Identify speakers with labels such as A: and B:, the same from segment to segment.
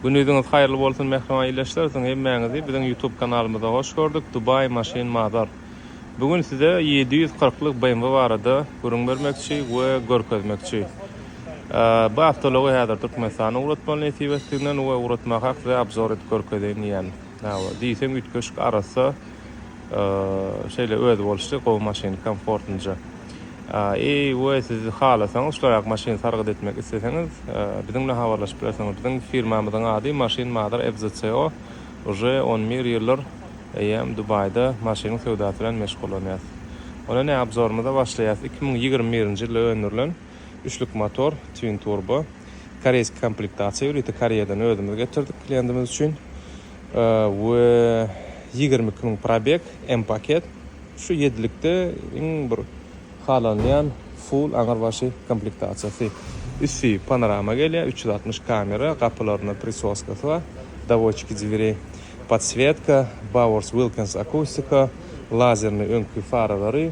A: Günüziňiz haýyrly bolsun mähriban ildeşler siziň hemmäňizi biziň ýutub kanalymyza hoş gördük Dubai Machine Mazar bu gün size ýedi ýüz kyrklyk BMW barada gürüň bermekçi we görkezmekçi bu awtology häzir Türkmenistana ugratmaly nesip etdiginden we ugratmakak size abzor edip görkezeýin diýýän diýseň üýtgeşik arassa Şeýle özboluşly gowy maşyn komfortnja. Eý we siz halasaňyz şularak maşyn sargyt etmek isleseňiz biziň bilen habarlaşyp bilersiňiz. Biziň firmamyzyň ady Maşyn Mother FZCO. Uje on bir ýyldyr eýýäm Dubaýda maşynyň söwdasy bilen meşgullanýas. Onda ne abzorymyza başlaýas iki müň ýigrimi birinji ýylda öndürilen üçlük motor twin turbo koreýski komplektasiýa ýörite koreýadan özümiz getirdik kliýentimiz üçin. we ýigrimi iki müň probeg M paket şu ýedilikde iň bir halanylýan full aňyr başy komplektasiýasy üsti panorama gelýär üç ýüz altmyş kamera gapylaryna prisoskasy bar dowodçiki dwirei podswetka bowers wilkens akustika lazerni öňki faralary.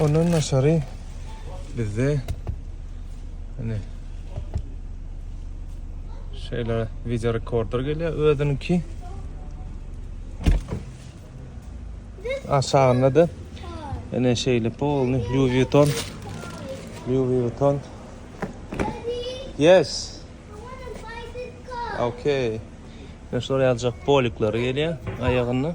A: Ondan daşary bizde hani şeýle video rekorder gelýär özüniňki. Aşagynda da ene şeýle polny Louis Vuitton. Louis Vuitton. Yes. Okay. Şolar ýaljak polikleri gelýär aýagynda.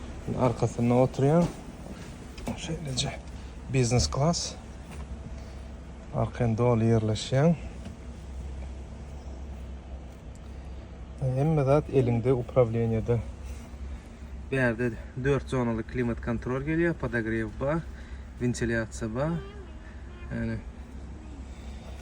A: Arkasynda oturýan. Şeýleje biznes klas. Arkan doly ýerleşýän. Hemme zat eliňde upravleniýede. Bu ýerde 4 zonaly klimat kontrol gelýär, podogrew bar, wentilýasiýa bar. Yani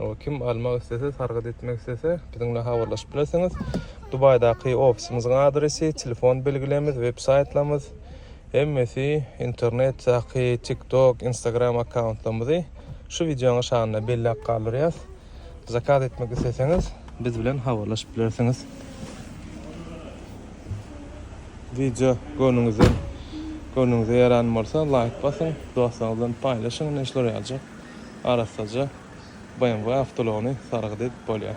A: Ol kim almak islese, sargyt etmek islese, biziň bilen habarlaşyp bilersiňiz. Dubaýdaky ofisimiziň adresi, telefon belgilerimiz, websaýtlarymyz, hemmesi internetdaky TikTok, Instagram akkauntlarymyzy şu wideonyň aşagynda belläp galdyrýas. Zakaz etmek isleseňiz, biz bilen habarlaşyp bilersiňiz. Wideo göwnüňizden göwnüňize ýaran bolsa, laýk basyň, dostlaryňyz bilen paýlaşyň, näşler ýaljak. arassaja BMW awtoulagyny sargyt edip bolýar.